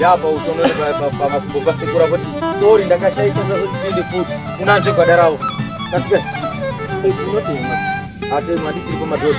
ya pautono pamakumbo pasekura kuti sori ndakashaisa sazotipinde futi unanzve gwada ravo kasika unotemwa atemwa ndichiri pamadhoti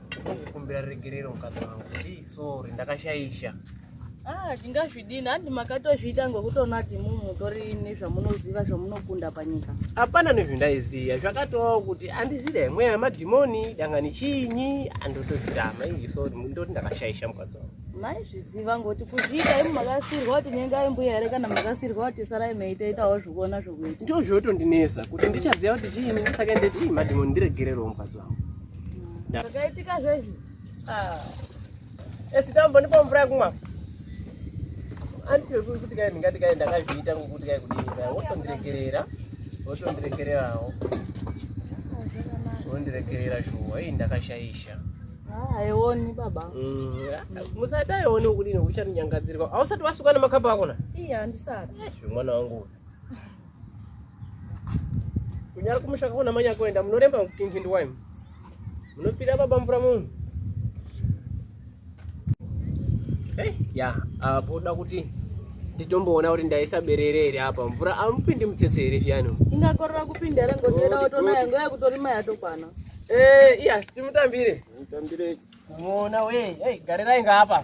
kukumbira regerero mukadzi wangu ndii sorry ndakashaisha Ah, tingazvidini handi makatozviita ngokutoona kuti mumutori nezvamunoziva zvamunokunda panyika hapana nezvindaiziva zvakatovawo kuti handizida yamwe yamadhimoni dangani chiinyi andotozvirama izvi so ndoti ndakashaisha mukadzi wangu maizviziva ngoti kuzviita imi makasirwa kuti nyengai mbuya here kana makasirwa kuti sarai meitoitawo zvikuona zvokuita ndozvotondinesa kuti ndichaziva kuti chiinyi ndisake ndeti madhimoni ndiregererewo mukadzi wangu Zvakaitika zvezvi. Ah. Esi tambo ndipo mvura kumwa. Andipwe kuti kai ndingati kai ndakazviita ngokuti kai kudini kai wotondiregerera. Wotondiregererawo. Wondiregerera shuwa iyi ndakashaisha. Haioni baba. Mm, Musati aioni ukudini uchandinyangadzirwa. Ausati wasuka nemakamba akona? Iya, handisati. Mwana wangu. kunyara kumusha kakona manya kuenda munoremba mukutinjindi waimu munopira baba mvura munhu eh, ya apo da kuti nditomboona kuti ndaisa berere here apa mvura amupindi mutsetse here zviyani ingakorera kupinda here ngotienda otona yango yakutorima yatokwana eh, iya timutambire mutambire muona we hey, garirai ngaapa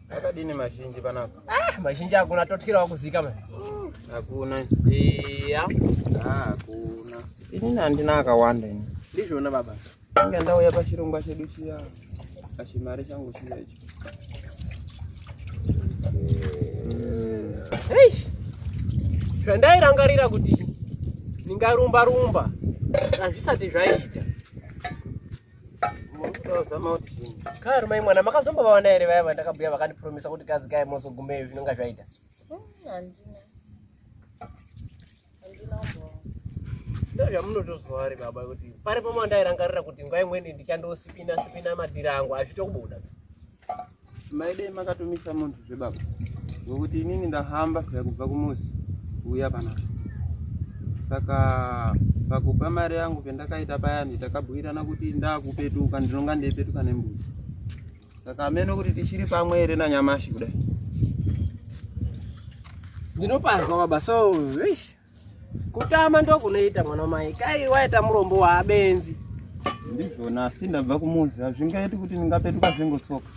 Akadini mazhinji panapa? Ah, mazhinji hakuna totyirawo kuzika mani. Hakuna. Iya. Ah, hakuna. Ini handina akawanda ini. Ndizvona baba. Inga ndauya pachirongwa chedu chiya. Pachimari changu chiya ichi. Eish. Zvandairangarira kuti ndingarumba rumba. Hazvisati zvaita. Kari mai mwana makazombovaona here vaya vandakabhuya vakandipromisa kuti kazi kai mozogumeyo zvinonga zvaita? Handina. Handina kumboona. Ndozvamunotoziva ari baba kuti pari pamandairangarira kuti nguva imweni ndichandosipina sipina madhiri angu azvitokubuda. maidei makatomisa munhu zvebaba ngokuti inini ndahamba kuya kubva kumuzi kuuya panapa saka pakupa mari yangu pendakaita payani takabhuirana kuti ndakupetuka ndinonga ndeipetuka nembuzi saka ameno kuti tichiri pamwe here nanyamashi kudai ndinopanzwa baba so Kutama ndokunoita mwana mai. Kai waita murombo waabenzi. Ndizvona asi ndabva kumuzi hazvingaiti kuti ndingapetuka zvingotsoka.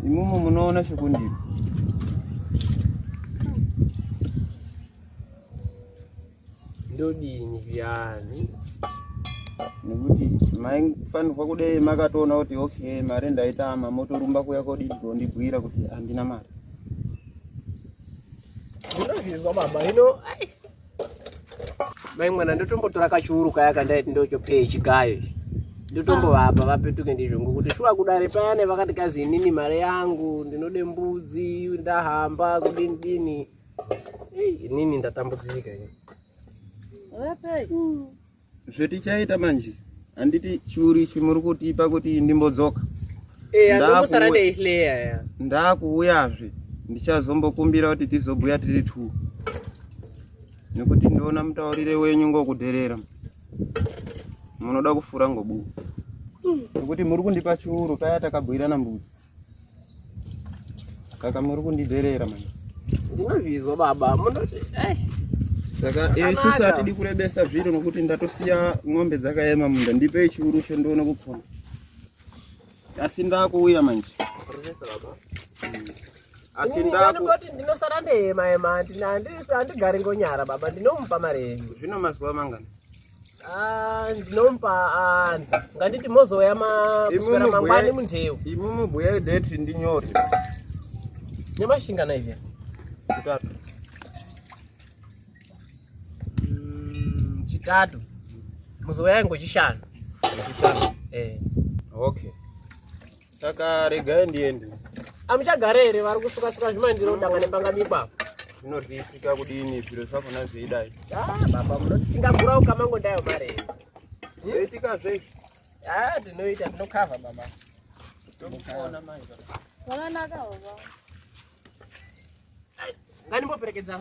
Imumu munoona chekundiri. Ndodini viyani? nekuti maifanirwa kudei makatoona kuti okay mari ndaitama motorumba kuya kodii kondibhuira kuti handina mari Ndinozvinzwa baba hino ai. Mai mwana ndotombotora kachuru kaya kandaiti ndochopei chigayo. Ndotombovapa ah. vapetuke ndizvo ngokuti shuwa kudare payane vakati kazi inini mari yangu ndinode mbudzi ndahamba kudini dini. Inini ndatambudzika ini. Vapai. Hmm. zvetichaita manje handiti churi chimuri kutipa kuti ndimbodzoka eh, ndakuuyazve ndichazombokumbira kuti tizobhuya tiri two nekuti ndiona mutaurire wenyu ngokudherera munoda kufura ngobuku hmm. nekuti muri kundipa chiuru paya takabhuirana mbuti Kaka muri kundidherera mani. Ndinozvizwa baba. Munoti eh. Saka isusu hatidi kurebesa zviro nokuti ndatosiya ng'ombe dzakaema munda ndipe churu chendoona kupona. Asi ndakuuya manje. Rusesa baba. Hmm. Asi ndaku kuti ndinosara ndeyema ema andigari ngonyara baba ndinomupa mari yenyu. Zvino mazuva mangani? Ah, ndinomupa anza ah, nganditi mozouya makuswera mangwani mundeu imi mubhuya ideti ndinyore nemashingana ivya chitatu mm, chitatu muzouya ingwe chishanu chishanu eh okay Saka regai ndiende. Amuchagara here vari kusuka suka zvimandiro danga nepanga mipa. Zvinotisika kudini zviro zvakona zveidai. Ah baba munotinga gura ukamango ndayo mare. Zveitika zve. Ah tinoita tinokava baba. Tinokaona manje. Wananaka baba. Ngani mboperekedza.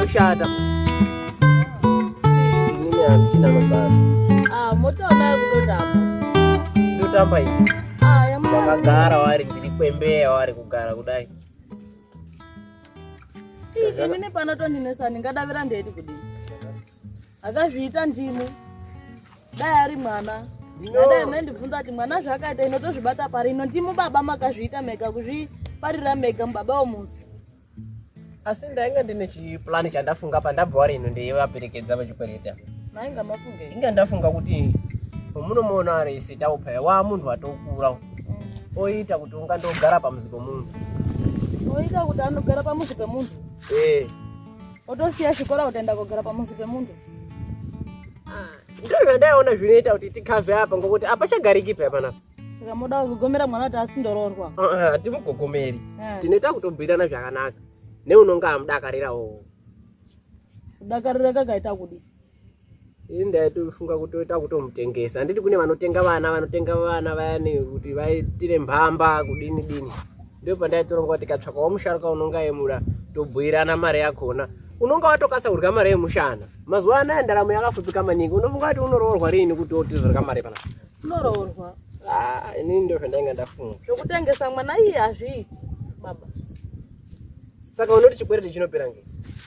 kushata inini handichina mabasa ah, motoamaya kutotamba ndotamba ini ah, vakagara wari ndiri kwembeya wari kugara kudai ini panotondinesa ndingadavira ndeti kudii akazviita ndimi dai ari mwana adai maindibvunza kuti mwana zvaakaita ino tozvibata pari ino ndimi baba makazviita mega kuzviparira mega mubaba womuzi asi ndainge ndine chiplani chandafunga pandabva wari ino ndeivaperekedza vachikwereta mainga mafunge inga ndafunga kuti omunomuona ari isi taupaya waa munhu atokura mm. oita kuti unga ndogara pamuzi pemunhu oita kuti anogara pamuzi pemunhu ee eh. otosiya chikora kutaenda kogara pamuzi pemunhu ah, ndizvo zvandaiona zvinoita kuti tikave apa ngokuti apa chagariki paya panapa saka moda kugogomera mwana kuti asindoroorwa hatimugogomeri ah, ah, eh. tinoita kutobhuirana zvakanaka neunonga amudakarirawo kudakarira kakaita kudii ini ndaitofunga kutoita kutomutengesa handiti kune vanotenga vana vanotenga vana vayani kuti vaitire mbamba kudini dini ndipo pandaitoronga kuti katsvakawo musharuka unonga yemura tobhuirana mari yakona unonga watokasa kudya mari yemushana mazuva anaya ndaramo yakafupika maningi unofunga kuti unoroorwa riini kuti otizorga mari pana unoroorwa ah, inini ndo zvandainga ndafunga zvokutengesa mwana iye hazviiti baba Saka unoti chikwereti chinopera ngei?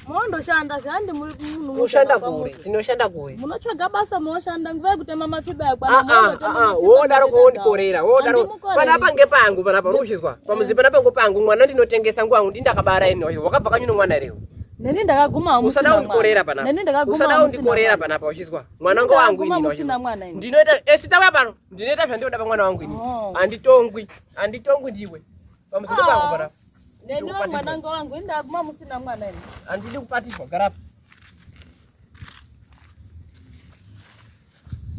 Mondoshanda zvandi munhu ushanda kuri tinoshanda kuri munotsvaga basa moshanda nguva yekutema mafiba yakwana ah, ah, ah, wodaro kuondikorera wodaro panapa ngepangu panapa uri kuchizwa pamuzi panapa ngopangu mwana ndinotengesa nguva yangu ndindakabara ini oyo wakabva kanyu nomwana here neni ndakaguma usada undikorera panapa usada undikorera panapa uchizwa mwana ngo wangu ini ndinoita esitauya eh, pano ndinoita zvandinoda pamwana wangu ini oh. handitongwi handitongwi ndiwe pamuzi ngopangu panapa Neniwo mwananga wangu ini ndakuma musina mwana ini. Andidi kubatishwa garapa.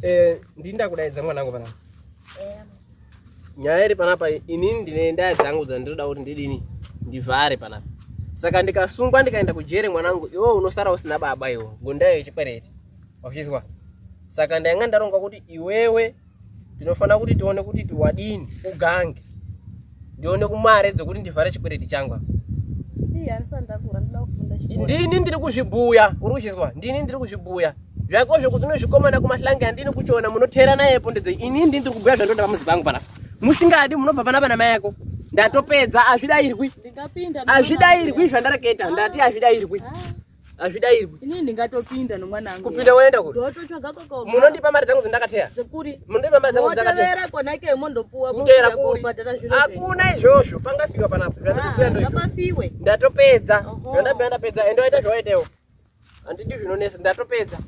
Eh, ndini ndakudaidza mwanangu panapa. Eh. Nyaya iri panapa inini ndine ndaya dzangu dzandinoda kuti ndidini ndivhare panapa. Saka ndikasungwa ndikaenda kujere mwanangu iwe unosara usina baba iwe ngondayo yechikwereti. Wachizwa? Saka ndanga ndaronga kuti iwewe ndinofanira kuti tione kuti tiwadini ugange ndione kumare dzekuti ndivhare chikwereti changu ndini ndiri kuzvibhuya uri kuchizwa ndini ndiri kuzvibhuya zvako zvekuti unozvikomana kumahlange andini kuchiona munoteera naye pondedzo ini ndini ndiri kubhuya zvandoda pamuzi pangu panapa musingadi munobva pana vana mai yako ndatopedza azvidairwi azvidairwi zvandareketa ndati azvidairwi ah. hazvidairwi ini ndingatopinda nomwana wangu kupinda woenda kuri ndototsvaga koko munondipa mari dzangu dzandakateya dzekuri munondipa mari dzangu dzandakateya kona ke mondopuwa kutera kuri hakuna izvozvo pangafika panapa ndatokuya ah, ndo ngapafiwe ndatopedza ndandabva ndapedza ende waita zvawaitewo handidi zvinonesa ndatopedza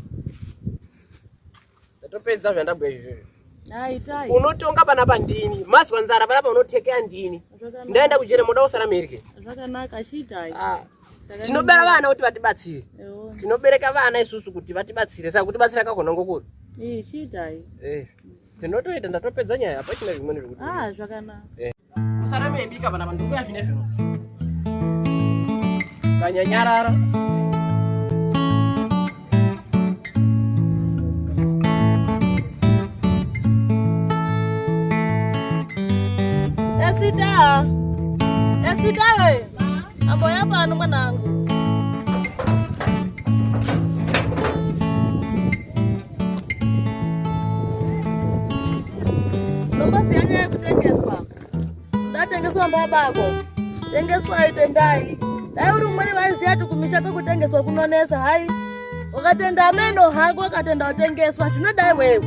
ndatopedza zvandabwa izvizvi unotonga pana pandini mazwa nzara panapa unotekea ndini ndaenda kujere moda kusara mirye ah. tinobera vana kuti vatibatsire tinobereka vana isusu kuti vatibatsire saka kutibatsira kakona ngokuri eh, tinotoita ndatopedza nyaya hapachina zvimweni zvekuti ah, eh. musarameibika vana vanhu uya zvine zvino kanyanyarara Esita, esita we. Amboya pano mwanangu. Nombozi yanga yekutengeswa. Ndatengeswa mbabako. Tengeswa aitendai. Dai uri umweni vaiziya kuti kumisha kwekutengeswa kunonesa hai. Ukatenda ameno hako ukatenda utengeswa zvinodai wewe.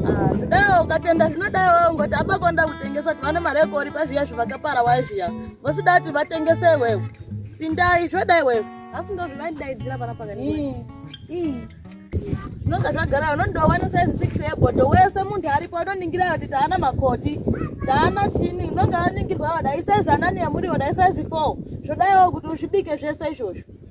Ah, zvidai ukatenda zvinodai wewe ngoti abako nda kutengeswa kuti vane mari yekoripa zviya zvivakapara wai zviya. vasidati vatengese iwewe pindai zvoda iwewe asi ndozvivandidaidzira pana pakani zvinonga zvagara unondowana size six yeboto wese munhu aripo unoningira kuti taana makoti taana chini unonga aningirwa wadai size anani yamuriwo dai size four zvodaiwo kuti uzvibike zvese izvozvo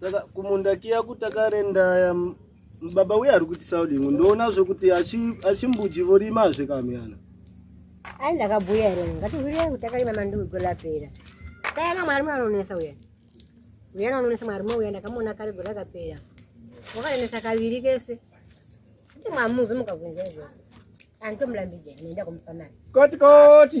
saka kumunda kiya kutakarendaya baba uye ari kuti saudingu ndoona zvekuti achimbuji vorima zve kamuyana ai ndakabhuya here ngatihwirei kuti takarima mandugo lapera kayana mwari mwe anonesa uya uyana anonesa mwari mwe uya ndakamuona kare go rakapera wakarenesa kaviri kese kuti mwamuvi mukavunza izvozvo anditomulambijai nenda kumupa mari koti koti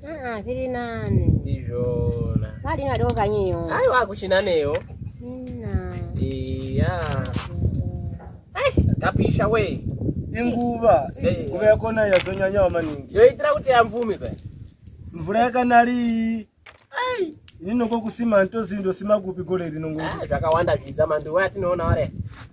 Ah, ah, zviri nani ndizvona vadi vadoko kanyiyo aiwa kuchina neyo iya tapisha we inguva nguva yakona yazonyanyawa maningi yoitira kuti yamvume pa mvura yakanari ai inongokusima ntozi ndosima kupi gore rinongo ah, zvakawanda zvidza manduwa atinoona ware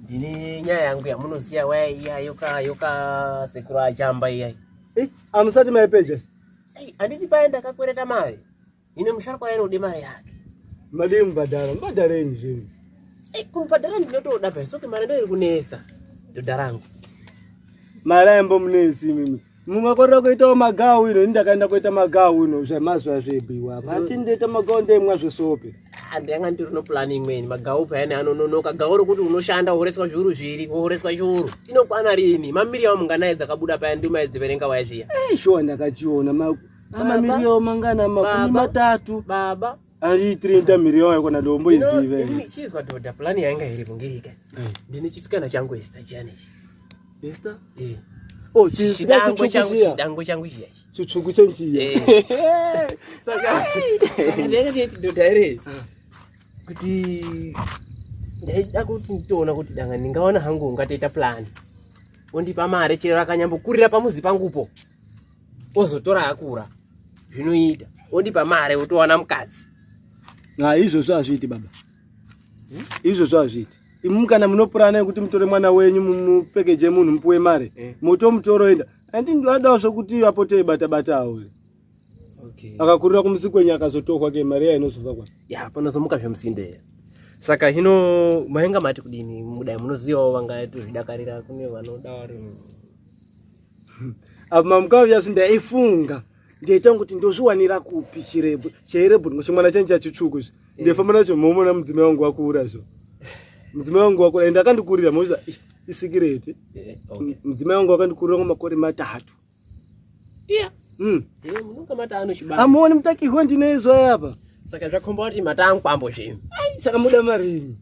ndine nyaya yangu yamunoziva waya iya yoka yoka sekuru achamba iyai eh, amusati maipeja handiti paye ndakakwereta mari ine musharukwa yanode mari yake madii mubhadhara mubhadhareni zvinhu eh, kumubhadhara ndinotoda baisoke mari ndoiri kunetsa dhodha rangu mari aimbomunetsi imimi mumakorera kuitawo magawu ino ini ndakaenda kuita magawu ino zvemazuva zvebiwa vati ndoita magawu ndeimwa zvesope ndanga ndiri no plan imweni magawu payani anononoka gawu rokuti unoshanda wohoreswa zviuru zviri wohoreswa chiuru inokwana rini mamiri yawo munganaye dzakabuda payani ndimaedziverenga waya zviya eh, shuwa ndakachiona mamiri yawo mangana makumi matatu baba ari 30 million yakona dombo izive ndini chizwa dhodha plan yanga iri kungeka eh. ndini chisikana changu Esther chani Esther eh Oh, chidango changu chidango changu chiya chitsvuku chenjiya eh. saka saka ndenge ndeti dhodha ere ah. kuti ndaida kuti nditoona kuti danga ndingaona hangu ungatoita plan ondipa mari chero akanyambokurira pamuzi pangupo ozotora akura zvinoita ondipa mari otowana mukadzi na izvozvo hazviiti baba hmm? izvozvo hazviiti imu kana munopurana yekuti mutore mwana wenyu mupekeje munhu mupuwe mari eh. motomutoroenda andi ndivadawo zvokuti apote bata bata awo okay. akakurira kumusi kwenyu akazotohwa ke mari yayo inozova kwa ya panozomuka zvemusinde saka hino mainga mati kudini mudai munozivawo vangatozvidakarira kune vanoda vari Abma mkao yaswi ndaifunga ndiyaita kuti ndozviwanira kupi chirebhu chairebhu ndingo chimwana changu chachitsvuku izvi eh. ndaifamba nacho momona mudzimai wangu wakura izvo mudzimai wangu wakura ende akandikurira moza isikireti eh, mudzimai wangu akandikurira ngo makore matatu iya mm. eh, munonga matano chibaba amuoni mutakihwe ndinoizwa yapa saka zvakhomba kuti matangwambo zvinhu saka muda marini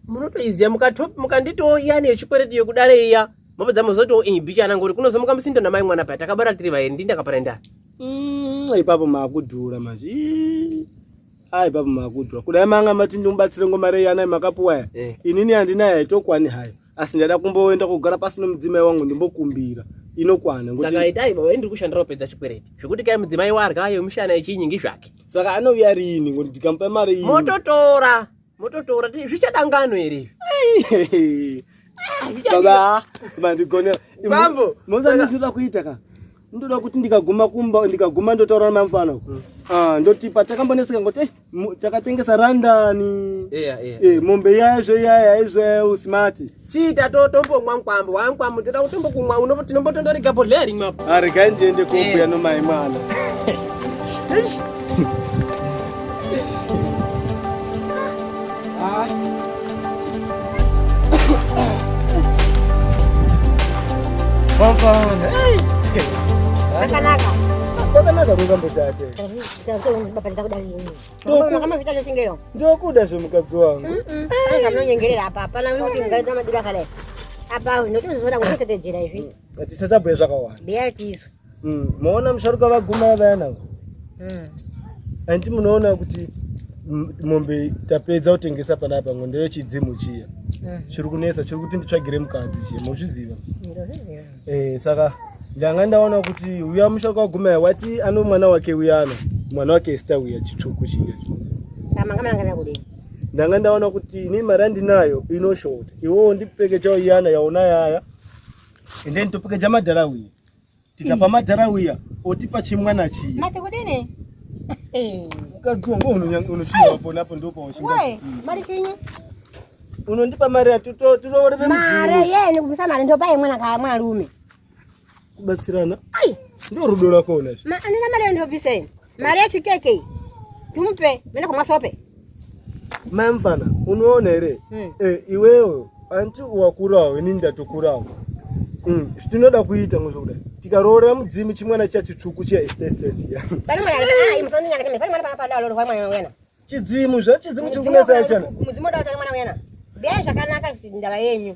munotoiziva mukanditiwo iya neyechikwereti yekudare iya mapedza mozoti o eh, bicha anangori kunozomuka musindo namai mwana paya takabara tiri vaeni ndi ndakaparenda mm, ipapo maakudhura manje a ipapo maakudhura kudai manga mati ndimubatsire ngomarei anai makapuwa ya eh. inini handinayo haitokwani hayo asi ndada kumboenda kugara pasi nomudzimai wangu ndimbokumbira inokwana saka itai baba ndiri kushandira kupedza chikwereti zvekuti kai mudzimai warya yemushana yechinyingi zvake saka anouya rini ngokuti ndikamupa mari iyi mototora mototora zvichadangano here izvi baba mandigonera mambo mozandisvira kuita ka ndoda kuti ndikaguma kumba ndikaguma ndotaura namfana mm. ah, ndoti patakamboneseka ngoti eh, takatengesa randani eh, mombe yaizvo yaya izvo usimati chiita totombomwa mukwambo wamukwambo ndoda kutombokumwa uno tinombotondorega bhodhleya rimwe apo aregai ah, ndiende kombuya nomai mwana Akanaka. Akanaka kungambo chate. Ndokuda zvemukadzi wangu. Anonyengerera apa hapana kuti ungaita madira kale. Apa unotozoona kuti tetejera izvi. Tisasabhuye zvakawanda. Biya tizwe. Mm, maona musharuka vaguma vayana mm. andi munoona kuti mombe tapedza kutengesa panapa ngo ndeye chidzimu chiya mm. chiri kunetsa chiri kuti nditsvagire mukadzi chiye mozviziva eh, saka ndanga ndaona kuti uya musharuka wagumaya wati ano mwana wake uyana mwana wake esta uya chitsvuku chiya ndanga ndaona kuti ini mari andinayo inoshota iwowo ndipekechawo iyana yaona yaya ende nditopekecha madhara uye tikapa madhara uya otipa chimwana chii mati kudini mukadzi wangu unochiwa ponapo ndopaushingamari chinyi unondipa mari yatiroorere mari yeni kubvisa mari ndopai mwana kaya mwarume kubatsirana ai ndo rudo rwako unazvo andina mari yandobviseni Mari yechikeke iyi tumupe mene kumwa sope. Mai mfana unoona here mm. eh, iwewe anti wakurawo ini ndatokurawo mm. tinoda kuita ngo zvokudai tikaroora mudzimu chimwana chiya chitsvuku chiya estestesiya chidzimu zvachidzimu chiri kunesa yachana mudzimu oda kutana mwana uyana biyai zvakanaka ndava yenyu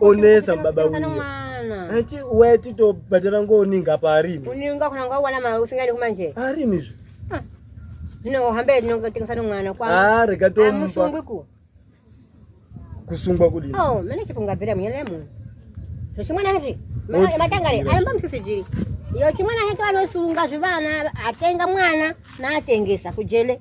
onesa baba anti uya titobhadhara ngooninga paarimi uninga kuna ngawana mari usingaendi kumanje arimi zve ah. zvino ohamba tinotengesa nomwana kwaa ah, rega tomusungwiku kusungwa kudini oh, mene chipungabvira munyana yemunhu zvechimwana izvi matangari aimba musikisijiri iyo chimwana heke vanosunga zvivana atenga mwana naatengesa kujele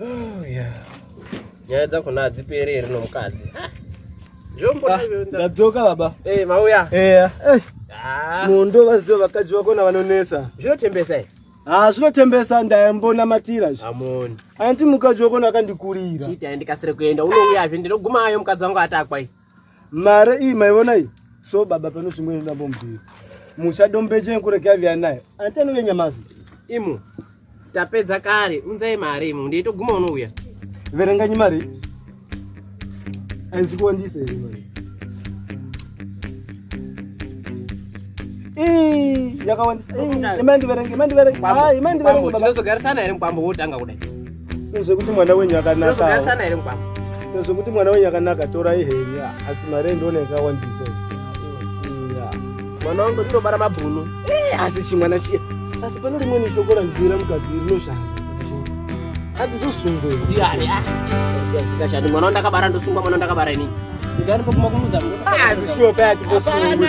Oh, nyaya dzakona hadziperi here nomukadzi ah, ndadzoka baba eh, mauya eya eh, ah. mundo vaziva vakadzi vakona vanonetsa zvinotembesa i ha zvinotembesa ndayambonamatira zvi amoni anti mukadzi wakona akandikurira chiti andikasire kuenda unouyazve ndinogumayo mukadzi wangu atakwai mare iyi maivona iyi so baba pano zvimwe inodambo mbiri musha dombeche nkure kyaviya nayo anti anove nyamazi imu tapedza kare unzai mari imu ndeitoguma unouya verenganyi mari aizi kuwandisa here mari yakawandisaimai ndiverenge imai ndiverenge imai ndiverenge tinozogarisana here mukwambo wotanga kudai sezvekuti mwana wenyu akanaka sezvekuti mwana wenyu akanaka torai henyu asi mari endionekawandisa mwana wangu ndinobara mabhunu eh, asi chimwana chiya asi pane rimweni shoko randibira mukadzi rinoshanda andizosungwe ah, mwana wandakabara ndosungwa mwana wandakabara ini ndikanipokumakumuza asi shuwa paya tiposungwe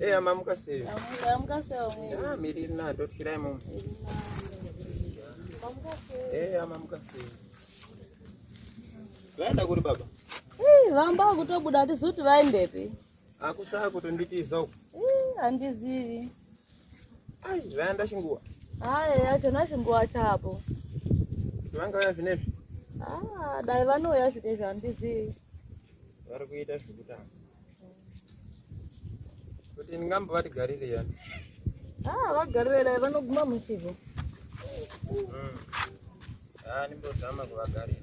Eya mamuka sei? Mamuka sei? Ah, miri na ndotirai mumu. Mamuka sei? Eya mamuka sei? Vaenda kuri baba? Eh, vamba kutobuda tizuti vaendepi? Akusaa kutonditiza uku. Eh, andizivi. Ai, zvaenda chinguwa. Hai, achona chinguwa chapo. Vanga vaya zvinezvi. Ah, dai vanouya zvinezvi andizivi. Vari kuita zvekutanga. Kuti ndingambo vatigarire yani. Ah, vagarire dai vanoguma muchivo. Mm. Ah, nimbozama kuvagarira.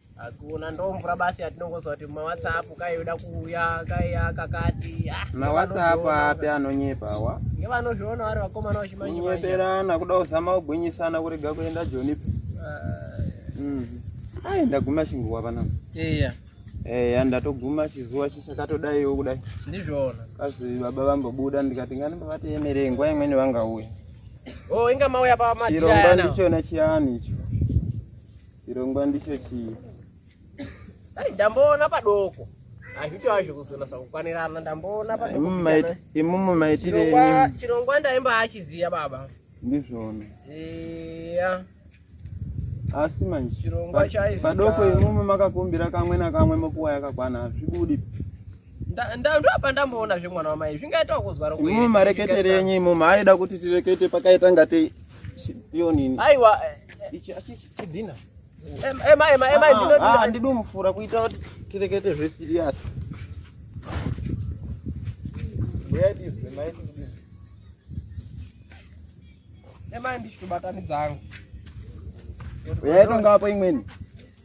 Hakuna ndomvura basi yatinongozwa kuti mawhatsapp kaiyoda kuuya kaiya kakati. Ah, mawhatsapp api anonyepa awa? Ngevanozviona vari vakomana vachimanje. Kunyeperana kuda kuzama kugwinyisana kurega kuenda Joni. Ah. Mm. Ai ndaguma chinguwa pana. Iya. Eya ndatoguma chizuva chisakatodaiwo kudai. Ndizvona. Kazi baba vambobuda ndikati ngani mbavatoemerei nguva imweni vangauya. Oh, inga mauya pa matirana. Chirongwa ndichona chiyani icho. Chirongwa ndicho chii? Dai ndamboona padoko. Hazvito hazvo kuzonasa kukwanirana ndamboona padoko. Imumu maitire chirongwa chirongwa ndaimba achiziya baba. Ndizvona. Eya. Asi manje chirongwa chaizi padoko imumu makakumbira kamwe na kamwe mokuwa yakakwana hazvibudi. ndoapa ndamboona zvemwana wamai zvingaita kuzwa rokuimumu mareketerenyi imumu aida kuti tirekete pakaita ngatei Yonini. Aiwa. Ichi achi chidina. Ema ema ema ndino ndino. Ah, ndido mufura kuita kuti tirekete zve serious. Where is the mic? Ema ndichikubatanidza hangu. Uyaita ngapo imweni.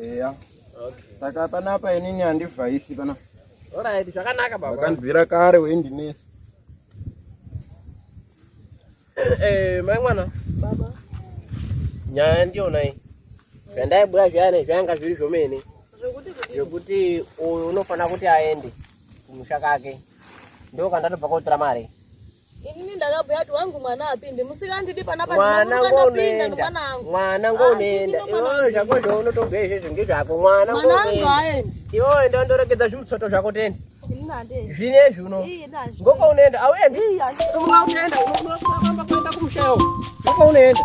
eya saka panapa inini handivhaisi pana orit zvakanaka baba akanzwira kare weindinesa eh, mai mwana baba nyaya yandiona iyi zvandaibhuya zviyani zvayanga zviri zvomene zvekuti uyu unofanira kuti aende kumusha kake ndokandatopa kotora mari Inini ndakabhuya kuti wangu mwana apinde musikandidi panapa mwana ngoenda mwana ngoenda iwewe zvako zvaunotobhuya izvezvi ngezvako mwana ngoenda iwe enda undoregedza zvimutsoto zvako tende zvinezvi uno ngoko unoenda auendi simuka unoenda unoamba kuenda kumushayo ngoko unoenda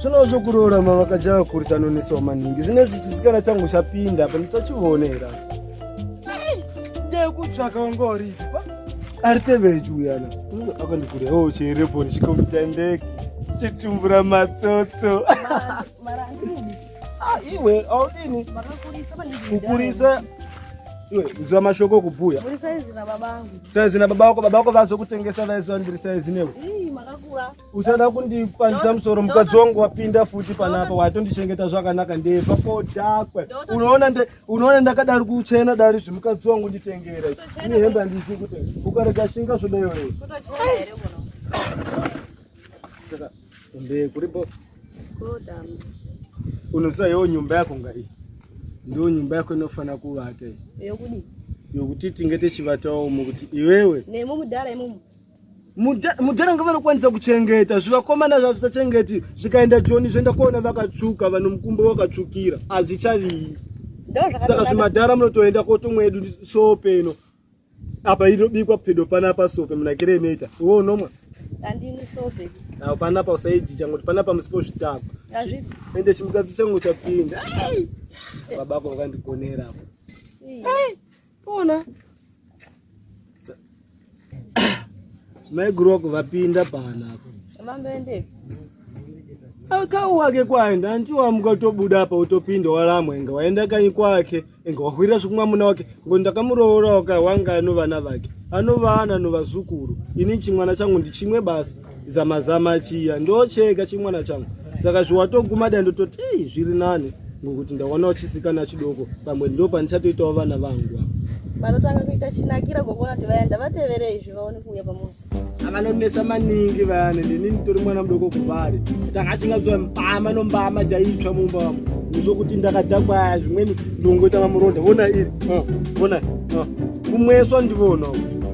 zvino zvokuroora mavakaja vakurisa anonesawo maningi zvine zvichisikana changu chapinda apa ndisachivonera ndekutsvaka ungoripa ari teveji uyana akandikuria o oh, cherepo ndichikomutendeki chitumbura matsotso ah, iwe audini kukurisa iwe uziva mashoko okubhuya saizi na baba vako baba vako vazokutengesa vaiziva ndiri saizi newe uchada kundipandisa musoro mukadzi wangu wapinda futi panapa waitondichengeta zvakanaka ndefa kodakwe unoona ndakadari kuchena dari zvimukadzi wangu nditengera ini hembe andisi kuti ukarega shinga zvodayoe saka mbe kuripo unoziva yewo nyumba yako nga iyi ndiwo nyumba yako inofanira kuvata iyi yokuti tinge tichivatawo mukuti iwewe nemumudhara imumu mudhara nga vanokwanisa kuchengeta zvivakomana zvavisachengeti zvikaenda joni zvoenda kuona vakatsvuka vanhu mukumbo wakatsvukira hazvichaviyi saka zvimadhara munotoenda kotomwedu sope ino apa inobikwa pedo panapa sope munakire inoita iwe unomwa apo panapa usaijicha ngoti panapa musipo zvitakwa ende chimukadzi changu chapinda babako vakandigonera apo Pona. Mai Grok vapinda pana hapo. Vamboende. Akau wake kwaenda hanti wamuka utobuda apa utopinda walamwa inga waenda kanyi kwake inga wahwira zvekumwa muna wake ngo ndakamuroora waka wanga anovana vake anovana novazukuru ini chimwana changu ndichimwe basi zama zama chiya ndochega chimwana changu saka zviwatoguma dai ndototi ii zviri nani ngokuti ndawana uchisikana chidoko pamwe ndo pandichatoitawo vana vangu vanotanga kuita chinakira ngokuona kuti vaenda vatevere izvi vaone kuuya pamuzi akanonesa maningi vayani ndini nditori mwana mudoko kuvari tanga achingazoa mbama nombama jaitsva mumba vamo zvokuti ndakadhakwaya zvimweni ndongoita mamuronda vona iri vona kumweswa ndivona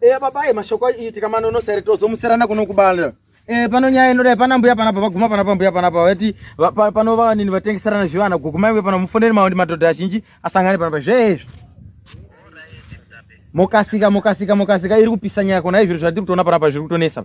Eh baba eh mashoko iitika manono sere tozomuserana kuno kubala. Eh pano nyaya inoda pana mbuya pana baba guma pana mbuya pana baba vati pano va nini vatengeserana zvivana guguma iwe pana mufoneri maundi madhodha azhinji asangane pana zvezvo. Mokasika mokasika mokasika iri kupisa nyaya kona izviro zvatiri kutoona pana pa zviri kutonesa.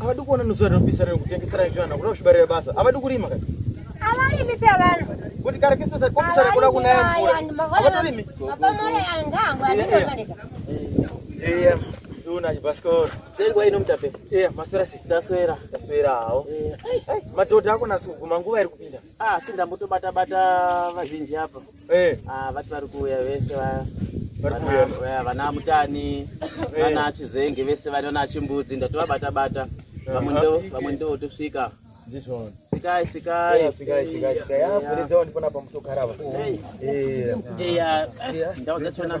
Avadi kuona nusu rinopisa rino kutengesera nzvimbo ana kuda kuchibarira basa. Avadi kurima kati. Avarimi pia vana. Kuti kare kiso sa kopisa rikuda kunaya mvura. Avatorimi. Apa mwana yanga angu anofanira. Eh. Duna chibasikoro. Dzengwa ino mutape. Eh, maswera si. Taswera. Taswera hawo. Eh. Madhodha ako nasu kuguma nguva iri kupinda. Ah, sindambotobata bata vazhinji apa. Eh. Ah, vati vari kuuya vese vaya. Eh, vana mutani eh. vana achizenge vese vana achimbudzi ndatovabata bata eh, vamwe ndo tosvika svikai svikai ndaudza chona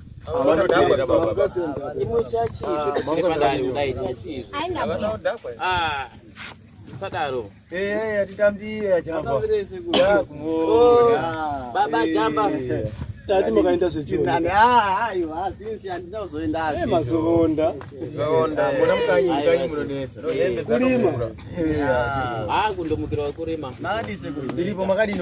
sadaro atitambire baba jamba tati makaenda zvemazoonda kulima kundomukira wekurima iripo makadini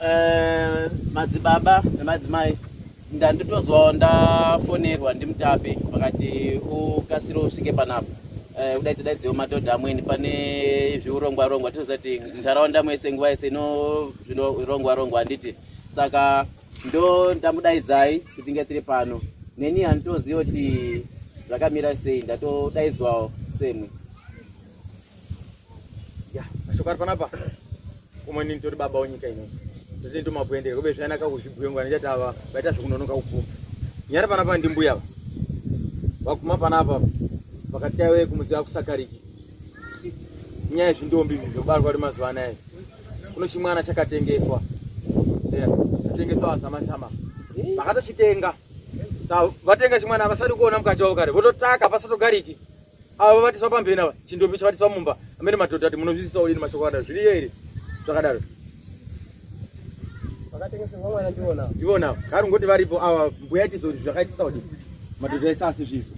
Eh, madzibaba nemadzimai ndanditozwawo ndafonerwa ndimutape vakati ukasire usvike panapa eh, udaidze daidzewo madhodha amweni pane zviurongwa rongwa tinoziva kuti munharaunda mwese nguva yese ino zvinorongwa rongwa handiti saka ndo ndamudaidzai kuti nge tiri pano neni handitoziva kuti zvakamira sei ndatodaidzwawo semwe ya mashoko ari panapa kumwe nini tori baba wenyika ino totini tomakuendera kube zvayanaka kuzvibhuya ngwana chati ava vaita zvekunonoka kupfuma nyari panapa ndimbuya ava vakuma panapa pakati kaiwe kumuziva kusakariki nyaya yezvindombi zvobarwa ri mazuva anaya kuno chimwana chakatengeswa chatengeswa vasamasama vakatochitenga vatenga chimwana vasati kuona mukati wavo kare vototaka pasatogariki avo vatiswa pambeni ava chindopi chavatiswa mumba amene madhodha ati munozvisisa odini mashoko akadaro zviriyo here zvakadaro ndivona kari ngoti varipo ava mbuya tizo zvakaitisa odini madhodha ese asizvizwa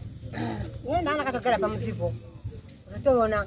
iye ndana akatogara pamusipo uzotoona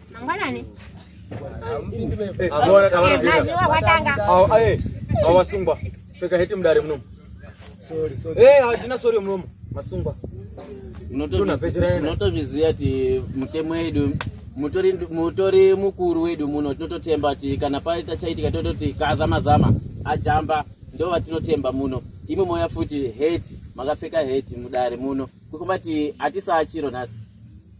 mangwanani mazuva watanga awasungwa pfeka heti mudare munomu hatina sori munomu masungwa unotozviziva ti mutemo yedu mutori mutori mukuru wedu muno tinototemba ti kana paita chaitika tototi kazama zama ajamba ndo vatinotemba muno imwe moya futi heti makapfeka heti mudare muno kukumba ti hatisaa chiro nhasi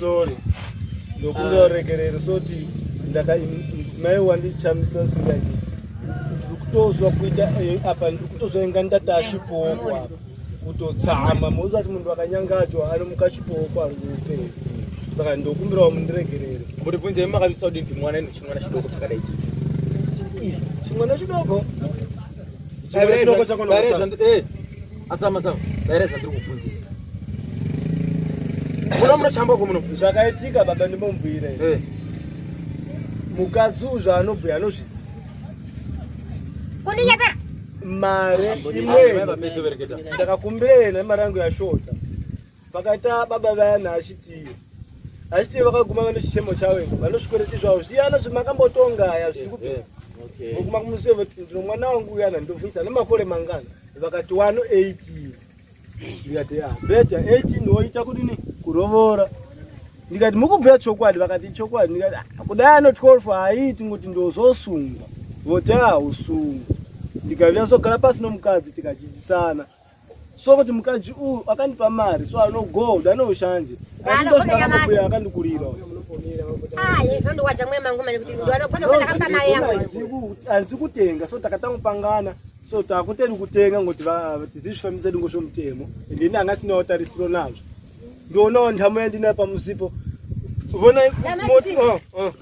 sorry ndokumbira ah. uregerero soti ndakadzimai wandichamisa singati ndiri kutozwa kuita eh, apa ndiri kutozwa inga ndati achipooko apa kutotsama moziva kuti munhu akanyangajwa anomuka chipooko ari kuupenyu saka ndokumbirawo mundiregerere muribvunzei makavisa kudii kuti mwana ino chimwana chidoko chakadai chimwana chidoko asama sama daira zvandiri kufunzisa muno munochamba ko muno zvakaitika baba ndimomubhuire eh. mukadzi uzvo anobhuya anozvizi kundinyepera mari imweni ndakakumbira yena mari yangu yashota Pakaita baba vaya naashiti ashiti vakaguma vane chichemo chavo vanosvikoreti zvavo zviyana zvemakambotonga zviri kupi eh, eh, voguma kumusiwe voti ndino mwana wangu uyana ndovhunisa nemakore mangana vakati wano eighteen ndikati ya beta eighteen woita kudini kurovora ndikati mukubhuya chokwadi vakati chokwadi ndikati ah, kudai ano twelve haiiti ngoti ndozosungwa voti a ah, usungwa ndikaviya zogara pasi nomukadzi tikadzidzisana so kuti mukadzi uyu akandipa mari so ano gold ano ushanje aindosvikaambuya akandikurira hanzi kutenga so takatanga kupangana so takuteri kutenga ngoti tizizvifambisa dingo zvomutemo ende ini anga sinawo tarisiro nazvo ndionawo ndhamu yandinayo pamusipo vonai oh, oh.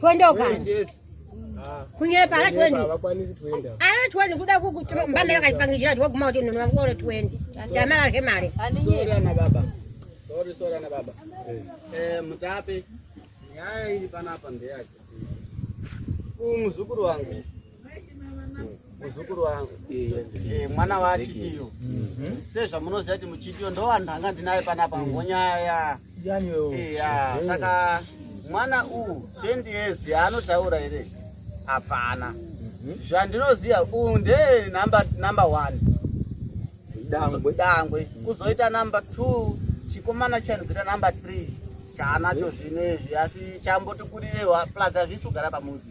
Tuendoka. Kunyepa ala twendi. Ala twendi kuda kukuti mbame yakapangijira kuti waguma kuti nunwa ngoro twendi. Jama varhe mare. Sorry ana baba. Sorry sorry ana baba. Eh mutape. Nyaya iri panapa ndeyake. Umuzukuru wangu. muzukuru wangu eh, mwana waachitiyo mhm. sezvamunoziva kuti muchitiyo ndovanhu anga ndinaye panapa ngonyaya iya mhm. saka mwana uwu twenty years yaanotaura here hapana mhm. zvandinoziva uwu ndee number one dangwe dangwe kuzoita number two chikomana chanobvira number three chaanacho zvino izvi asi chamboti kurirewa plus hazvisi kugara pamuzi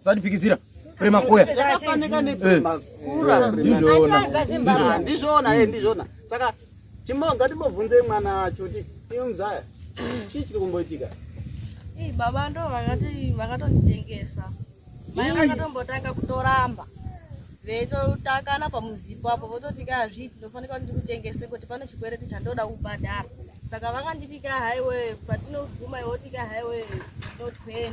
Usandipikisira. Prema koya. Zvakafanana neprema kura. Ndizvona. Ndizvona, eh ndizvona. Saka chimonga ndimobvunze mwana wacho kuti iwe mzaya. Chii chiri kumboitika? Eh baba ndo vakati vakatonditengesa. Mai vakatombotanga kutoramba. Veitotakana pamuzipo apo vototi ka hazviti ndofanira kuti ndikutengese kuti pane chikwereti chandoda kubhadhara. Saka vakanditi ka highway patinoguma iwe tika highway no 20.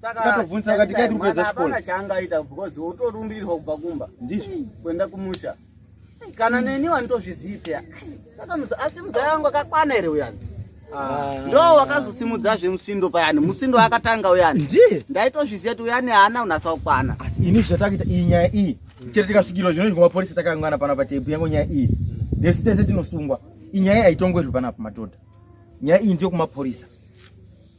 Takatobvunza akati kai tiri kuedza chikoro. Hapana chaangaita because wotorumbirirwa kubva kumba. Ndizvo. Kuenda kumusha. Kana neni wanitozvizivi peya. Saka asi muzaya wangu akakwana here uyani? Ah. Ndo wakazosimudza zve musindo payani. Musindo akatanga uyani. Ndiye. Ndaitozviziva kuti uyani haana unasa kukwana. Asi ini zvatakuita iyi nyaya iyi. Chete tikasvikirwa zvino ngoma police takangana pana patebu yangu nyaya iyi. Nesi tese tinosungwa. Inyaya haitongwerwi panapa madhodha. Nyaya iyi ndiyo kumapurisa.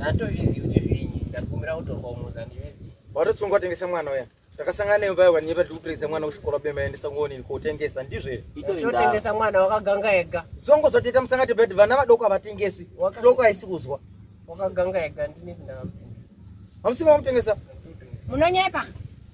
Hatozvizivi kuti zvinyi ndakumbira kutorwa umuzi handizvizivi. Watotsungwa tengesa mwana uya. Takasangana newe paya wani yepa tikupirisa mwana kuchikoro bema endesa ngoni kotengesa ndizve. Totengesa mwana wakaganga ega. Zongo zvateta musangati bed vana vadoko avatengesi. Hloko haisi kuzwa. Wakaganga ega ndine ndakam. Hamusi mamutengesa? Munonyepa.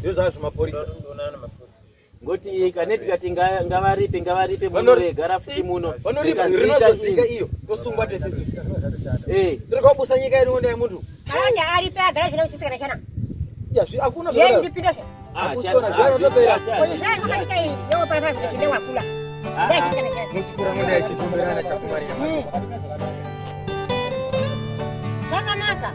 ndozvazvo mapurisa ngoti kaneti kati ngavaripe ngavaripe munoregara futi muno vanoriparinozosika iyo tosungwa tesisu eh. tiri kwabusa nyika yedu ndai munhu anenge aripe agara zvine uchisikana chana hakuna ndipinde zvakanaka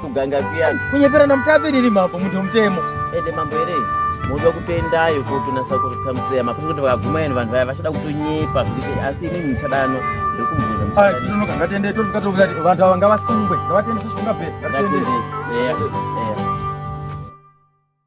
kuganga kuyani kunyepera namutapi riri mambo munhu wemutemo ende mambo here moda kutoendayo kotonasa kurutsa mutseya mapasi kuti vakaguma yani vanhu vaya vachada kutonyepa zvekuti asi ini muchadano ndokumbuzavanhu ava ngavasungwe ngavatendeswe zvikunga bhe